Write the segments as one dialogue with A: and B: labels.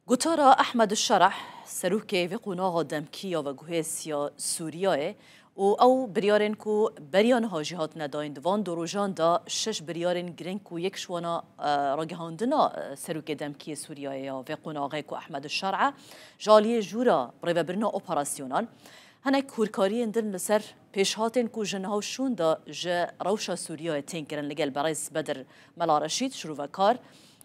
A: Gotara Ehmed Şereh, serokê vê qonaxa demkî ya veguhêsiya Sûriyeyê û ew biryarên ku beriya niha jî hatine dayîn di van du rojan de şeş biryarên girîng ku yek ji wan a ragihandina serokê demkî yê Sûriyeyê ya vê qonaxê ku Ehmed Şereh ji aliyê jûra rêvebirina operasyonan hinek hûrkariyên din li ser pêşhatên ku ji niha û şûn de ji rewşa Sûriyeyê tên kirin li gel berêz Bedir Mela Reşîd şirûvekar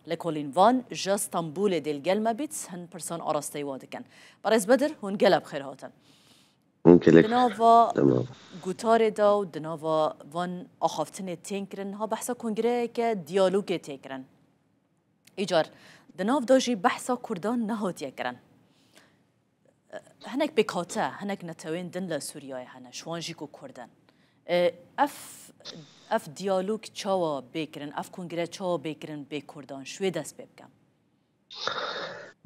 A: Lêkolîn van ja Stenbolê dêl gel me bît hin pirsan arasteyî wa dikin. Berêz Bedir hûn gela bi xêr hatin.
B: Di nava
A: gutarê
B: de û
A: di nava van axaftinê tên kirin niha behsa kongreyeke diyalogê tê kirin. Îcar di nav de jî behsa kurdan nehatiye kirin. Hinek pêkhate, hinek netewên din li Sûriyeyê hene, ji wan jî ku Kurd in. Ev ev diyalog çawa bê kirin, ev kongre çawa bê kirin bê Kurdan? Ji wê dest pê bikim.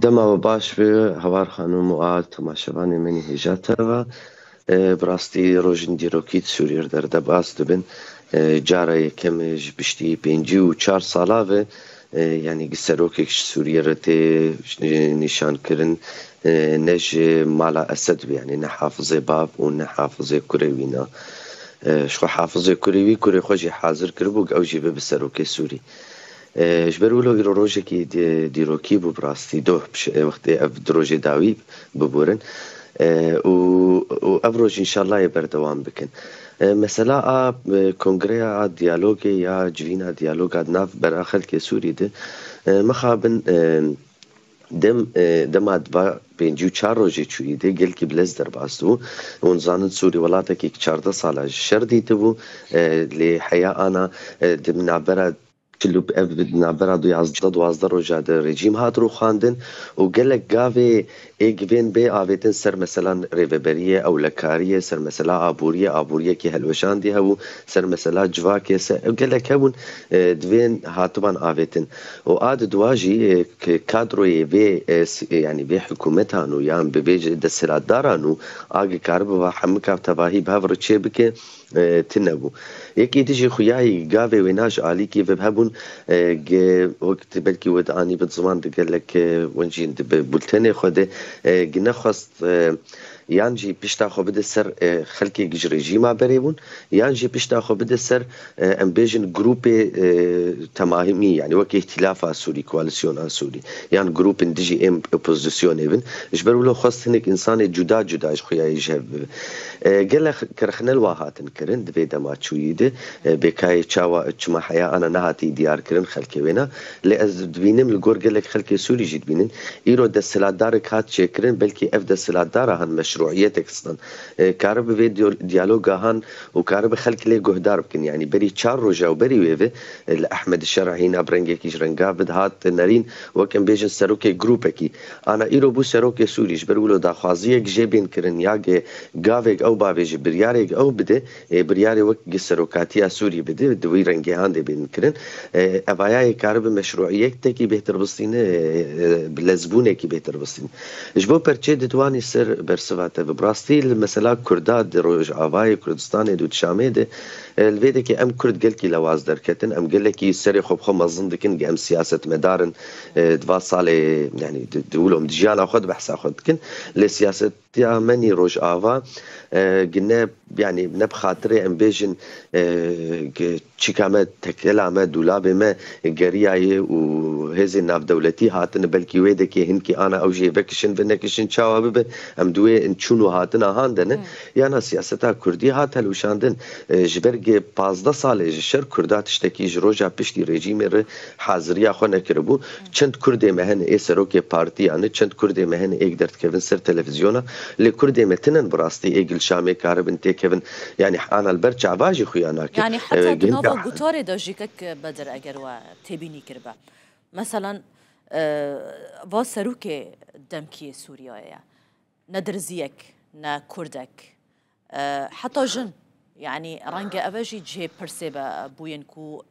A: Dema
B: we baş be Hawar Xanûm û a tomaşevanên min hêja te ve. Bi rastî rojên dîrokî di Sûriyê re derdebas dibin. Cara yekemê ji piştî pêncî û çar sala ve yanî gi serokek ji Sûriyê re tê nîşankirin ne ji mala Esed be yanî ne Hafizê bav û ne Hafizê kurê wî na. Ji xwe Hafizê kurê wî kurê xwe jî hazir kiribû ku ew jî bibe serokê Sûrî. Ji ber wilo îro rojekî dîrokî bû bi rastî doh wextê ev di rojê dawî biborin û ev roj înşallayê berdewam bikin. Mesela a kongreya a diyalogê ya civîna diyaloga di nav bera xelkê Sûrî di mixabin dem dema di va pêncî û çar rojê çûyî di gelkî bi lez derbas dibû. Hûn zanin Sûrî welatekî ki çardeh sala ji şer dîtibû lê heya ana di navbera Çilûk ev di navbera du yazdeh û duwazdeh roja di rejîm hat rûxandin û gelek gavê ê givên bê avêtin ser mesela rêveberiyê, ewlekariyê, ser mesela aboriyê, aboriyekî hilweşandî hebû, ser mesela civakê, ser ew gelek hebûn divên hatiban avêtin û a di duwa jî kadroyê vê yanî vê hikûmetan û yan bibêje desthilatdaran û a gikaribû va hemika tevahî bi hev re çêbike. Tune bû. Yekê dijî xuyayî gavê wê naş alî kî vib hebûn ge wek ti belkî wed anî bid ziman di gelek wencîn di bi bultenê xwe de gi nexwest yan jî pişta xwe bide ser xelkêk ji rejîma berê bûn yan jî pişta xwe bide ser em bêjin grûpê temahîmî yanî wek Îhtîlafa Sûrî, Koalîsyona Sûrî yan grûpên dijî êm opozisyonê bin. Ji ber wilo xwest hinek însanê cuda cuda ji xuyayî ji hev bibe. Gelek kirxinel wa hatin kirin di vê dema çûyî de. Bêkayê çawa çima heya ana nehatiye diyarkirin xelkê wêna. Lê ez dibînim li gor gelek xelkê Sûrî jî dibînin. Îro desthilatdarek hat çêkirin belkî ev desthilatdara han meşrûîyetek stan. Karibe vê diyalogahan û karibe xelk lê guhdar bikin. Yanî berî çar roj ew berî wê ve li Ehmedî Şerî hîna bi rengekî ji rengav ve dihat nerîn wek em bêjin serokê grûpekî. Ana îro bû serokê Sûrî, ji ber wilo daxwaziyek jê bên kirin ya ge gavêk ew bavê ji biryarêk ew bide, ê biryarê wek ge serokatiya Sûrî bide, di wî rengêhan de bên kirin. Evaya yê karibe meşrûiyektekî bêhtir bistîn e, bi lezbûnekî bêhtir bistîn. Ji bo perçê didwanî ser bersiva te ve. Bi rastî li mesela Kurda di Rojavayê Kurdistanê de û di Şamê de, li vê de ke em Kurd gelkî lewaz derketin, em gelekî serê xwe bi xwe mezin dikin ge em siyasetmedar in, Di van salê yanî di wilo di jiyana xwe di behsa xwe dikin lê siyasetiya menî Rojava gi ne yanî ne bi xatirê em bêjin çîka me tekela me dûlabê me geriyayê û hêzên navdewletî hatine belkî wê dekê hinkî ana ew jê vekişin vinekişin çawa bibe em di wê çûn û hatina han de ne yana siyaseta Kurdî hat helwişandin ji ber gê pazdeh salê ji şer Kurda tiştekî ji roja piştî rejîmê re Haziriya xwe nekiribû. Çend Kurdê me hene ê serokê partiya ne, çend Kurdê me hene êk derdikevin ser televizyona. Lê Kurdê me tinen bi rastî ê Gilşamê karibin têkevin. Yanî ana li ber çava jî xuya nake. Yanî heta di
A: nava gutarê de jî kek Bedir eger we têbînî kiribe. Meselan va serokê demkî yê Sûriyeyê ye. Ne dirziyek, ne kurdek, heta jin, yanî renge ev e jî cihê pirsê be bûyên ku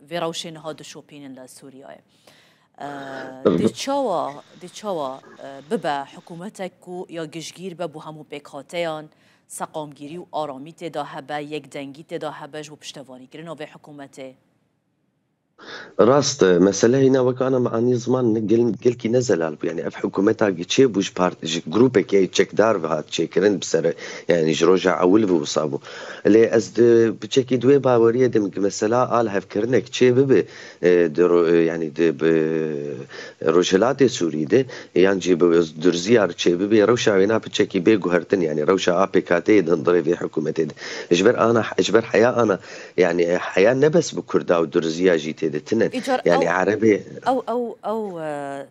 A: vê rewşê niha dişopînin li Sûriyeyê. Dê çawa dê çawa bibe hikûmetek ku ya gişgîr be bo hemû pêkhateyan, seqamgîrî û aramî tê de hebe, yekdengî tê de hebe ji bo piştevanîkirina vê hikûmetê?
B: Rast e, mesele hîna wek ana me anî ziman ne gel gelkî ne zelal bû. Yanî ev hikûmeta gi çêbû ji part ji grûpekê yê çekdar ve hat çêkirin bi ser yanî ji roja ewil ve wisa bû. Lê ez di piçekî di wê baweriyê de me gi mesela a lihevkirinek çê bibe di ro yanî di bi Rojhilatê Sûrî de yan jî bi Durzîya re çê bibe rewşa wêna piçekî bê guhertin yanî rewşa a PKT'ê di hundirê vê hikûmetê de ji ber ana ji ber heya ana Yanî heya ne bes bi kurda û durziya jî tê de tune. Îcar ew Yanî
A: erebê
B: ew ew ew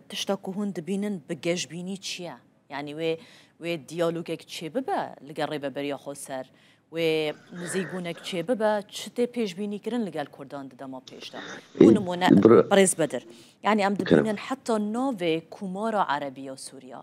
A: tişta ku hûn dibînin bi gejbînî çi ye? Yanî wê wê diyalogek çêbibe li gel Rêveberiya Xweser, wê nizîkbûnek çêbibe çi tê pêşbînîkirin li gel kurdan di dema pêş de? Bû nimûne Birêz Bedir, yanî em dibînin heta navê Komara Erebî ya Sûriya,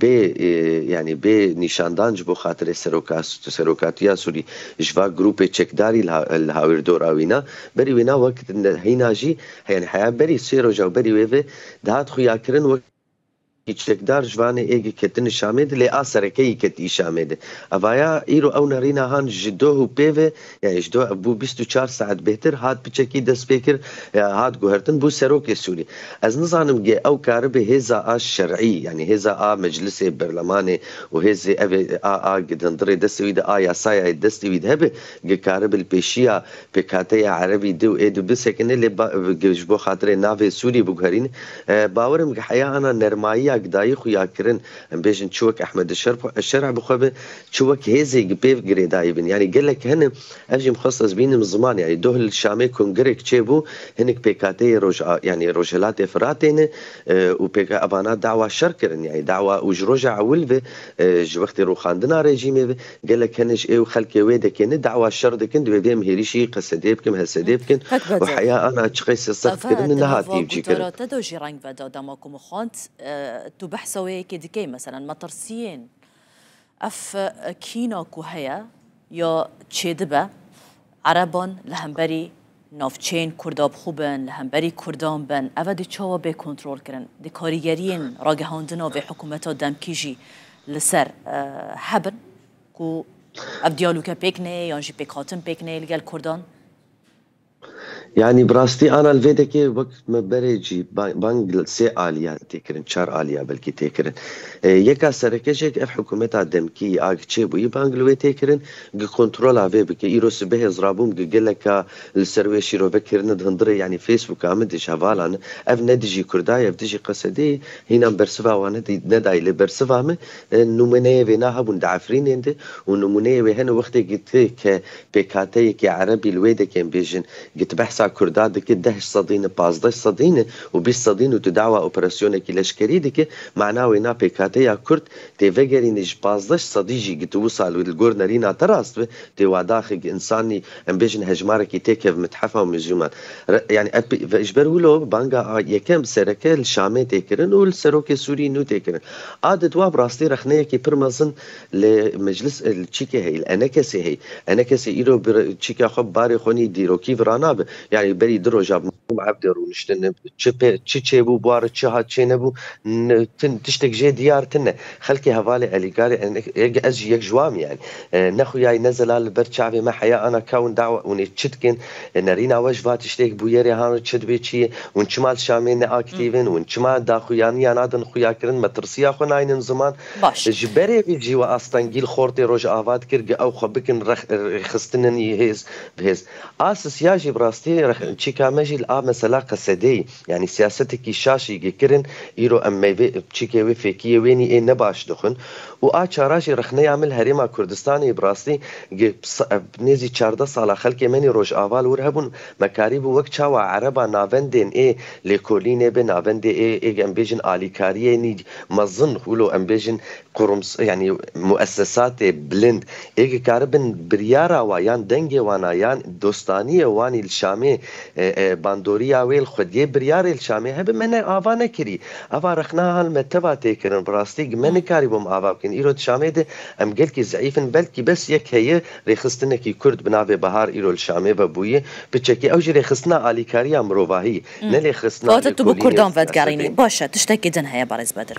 B: Bê yanî bê nîşandan ji bo xatirê serokatiya Sûrî ji va grûpê çekdarî li hawîr dora wîna. Berî wîna wek hîna jî yanî heya berî sê roja û berî wê ve dihat xuyakirin wek yek çekdar ji vanê ê ketin Şamê di lê a serekeyî ketî Şamê di. Evaya îro ew nerîna han ji doh û pê ve Ji do ev bû bîst û çar saet bêhtir, hat biçekî destpêkir, hat guhertin bû serokê Sûrî. Ez nizanim gê ew karibe hêza a şerî yanî hêza a meclisê, berlemanê û hêzê ev ê a a gidindirê destê wî de a yasaya yê destê wî de hebe, gi karibe li pêşiya pêkhateya erebî di û ê di bisekine lê ba gi ji bo xatirê navê Sûrî biguherîne. Bawer im gi heya ana nermayiya gi dayî xwe ya kirin, em bêjin çi wek Ehmedê Şerp şerî bi xwe be, Çi wek hêzê gi pêv girêdayî bin. Yanî gelek hene. Ev jî mixwest ez bînim ziman. Yanî doh li Şamê kongirek çêbû. Hinik pêkateyê roj a yanî rojhilatê Firatê ne û pêk evana dawa şer kirin. Yanî dawa û ji roja ewil ve ji wextê rûxandina rejîmê ve gelek hene ji ê û xelkê wê dekê ne dawa şer dikin. Divê vêm hêrîşî qesedê bikim, hesedê bikin û heya ana çi qesê seft kirine neha tîv jî kirin. Gotara te de jî reng veda
A: dema ku mixwend tu behsa wê yekê dikey. Meselan metirsiyên. Ev kîna ku heye ya çêdibe, Ereban li hemberî navçeyên Kurdabixwe bin, li hemberî Kurdan bin, ev e dê çawa bê kontrolkirin? Dê karîgeriyên ragihandina vê hikumeta demkî jî li ser hebin ku ev diyaloke pêk neyê yan jî pêkhatin pêk neyê li gel Kurdan?
B: Yanî bi rastî anal vêdekê wek me berê cî bang li sê aliyan tê kirin, çar aliya belkî tê kirin. Yeka sereke jê ev hikûmeta demkî yî a gi çê bûyî bang li wê tê kirin gi kontrola vê bike. Îro sibehê zirabûm gi geleka li ser wê şîrove kirine di hundirê yanî Facebooka min de jî hevalan in. Ev ne dijî Kurda ye ev dijî Qesedê ye. Hînan bersiva wan nedayî lê bersiva min nimûneyê vêna hebûn di Efrînên de û nimûneyê wê hene wextê ke Pêkhateyekê erebî li wê dekên bêjin gi ti behsa kurda dike dehj sedîne pazdeh sedîne û bîst sedîn û tu dawa operasyonekî leşkerî dike mana wê na pêkhateya kurd tê vegerîne ji pazdeh sedî jî gi ti wisa li li gor nerîna te rast be tê wadaxe gi însanî em bêjin hejmarekî tê kev mit'hefa û muzîman re yanî ev pê ji ber wilo banga a yekem sereke li şamê tê kirin û li serokê sûrî nû tê kirin a di dwa bi rastî rexneyekî pir mezin Lê meclis li çi ke heye? Li enekesê heye. Enekesê îro bi çîka xwe, bi barê xwe nî dîrokî vira nabe. Yanî berî du roja bi Mehîm Ebdê rûniştin, çi pê çi çêbû buar, çi hat çê nebû, tin tiştek jê diyar tine. Xelkê hevalê Elîgarê Enekesê, ez jî yek ji wan im yanî. Ne xuyayî ne zelal li ber çavê me heya ana kewin dawa ûnê çi dikin, nerîna we ji va tiştêk bûyerê hano çi dibê çi yê, hûn çima li Şamê ne aktîv in, hûn çima daxuyaniya nadin xuyakirin, metirsiya xwe naynin ziman. Baş. Ji berê vî jî we astengîl xortê Rojava dikir ge ew xwe bikin rex rêxistinên yê hêz bi hêz. A sisya jî bi rastî rex çîka me jî li a mesela qesedeyî yanî siyasetekî şaş î ge kirin îro em meyvê çîkê wê fêkiyê wênî ê ne baş dixwin û a çara jî rexneya min li herêma Kurdistanê î bi rastî ge nêzî çardeh sala xelkê menî Rojava li wir hebûn Me karîbû wek çawa ereba navendên ê lêkolînê be, navendê ê ê em bêjin alîkariyên î mezin û lo em bêjin qurums yanî muessesatê bilind ê ki karibin biryara wa yan dengê wan a yan dostaniyê wan î li Şamê bandoriya wê li xwediyê biryarê li Şamê hebe me ne ava nekirî. Eva rexna hal me teva tê kirin. Bi rastî gi me nikarîbûm ava bikin. Îro di Şamê de em gelkî zeîf in belkî bes yek heye. Rêxistinekî Kurd bi navê Bahar îro li Şamê vebûyî, bi çekî ew jî rêxistina alîkariya mirovahî, ne lêxristina lêkolînê siyasî. Kewata tu bi Kurdan
A: vedigerînî. Baş e, tiştekî din heye Berêz Bedir.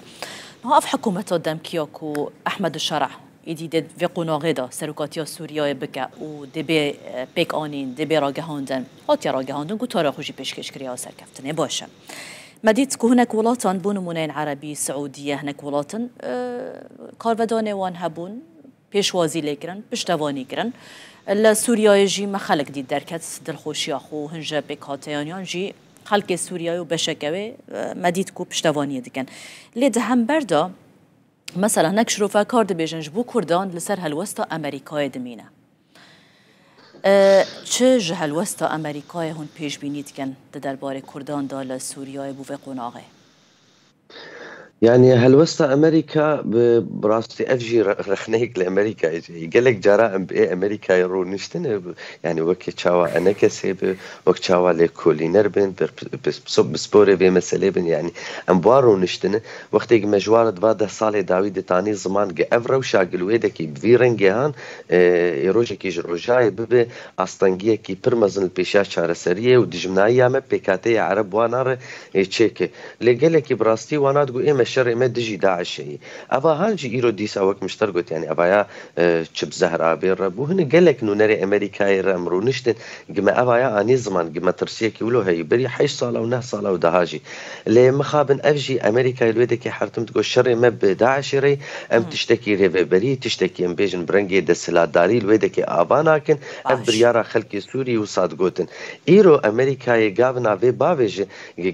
A: Niha ev hikûmeta demkî ya ku Ehmed Şereh êdî dê vê qonaxê de serokatiya Sûriyeyê bike û dê bê pêkanîn, dê bê ragihandin, hatiye ragihandin, gotara xwe jî pêşkêş kiriya serkeftinê. Baş e. Me dît ku hinek welatan, bo nimûne yên Erebî, Siûdîye, hinek welat in, karvedanê wan hebûn, pêşwazî lê kirin, piştevanî kirin. Li Sûriyeyê jî me xelk dît derket dilxweşiya xwe û hin ji pêkhateyaniyan jî xelkê Sûriyeyê û beşeke wê me dît ku piştevaniyê dikin. Lê di hember de mesela hinek şrofekar dibêjin ji bo Kurdan li ser helwesta Amerîkayê dimîne. Çi ji helwesta Amerîkayê hûn pêşbînî dikin di derbarê Kurdan de li Sûriyeyê bo vê qonaxê? Yanî
B: helwesta Amerîka bi rastî ev jî rexneyek li Amerîkayê jî heye. Gelek cara em bi Amerîkayê rûniştin e yanî weke çawa enekesê be, wek çawa lêkolîner bên, pisporê vê meselê bin yanî em bi wan rûniştin e. Wextê ku me ji wan re di van deh salê dawî ditanî ziman ku ev rewşa gil wêdekî bi vî rengê han ê rojekî ji rojayê bibe astengiyekî pir mezin li pêşiya çareseriyê û dijminaiya me pêkhateyê ereb wana re Ê çêke. Lê gelekî bi rastî wana digo ê me şerê me dijî DAIŞ'ê yî. Eva hal jî îro dîsa wek mişter got yanî eva ya çi bi Zehrabê re bû. Hinek gelek nûnerê Emerîkayê re em rûniştin gi me eva ya anî ziman gi metirsiyekî wilo heyî berî heşt sal ew neh sal ew daha jî. Lê mixabin ev jî Emerîkayê li wê dekê hertim digo şerê me bi DAIŞ'ê re yî. Em tiştekî rêveberî, tiştekî em bêjin bi rengê desthilatdarî li wê dekê ava nakin. Ev biryara xelkê Sûrî wisa digotin. Îro Amerîkayê gavina vê bavê ji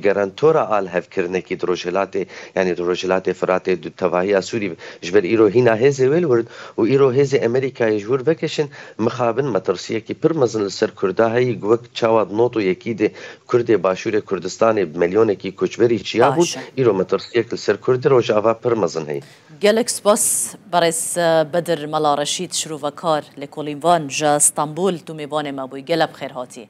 B: garantora alhevkirinekî di Rojhilatê yanî di Rojhilatê Firatê di tevahiya Sûrî be. Ji ber îro hîna hêzê wê li wir in û îro hêzê Amerîkayê ji wir vekişin mixabin metirsiyekî pir mezin li ser Kurda heyî ku wek çawa di not û yekî de Kurdê Başûrê Kurdistanê bi milyonekî koçberî çiyabûn îro metirsiyek li ser Kurdê Rojava pir mezin heyî. Gelek spas
A: Berêz Bedir Mela Reşîd Şirovekar Lêkolîn Van ji Stenbol Tomêvanê me bûyî. Gelek bi xêr hatî.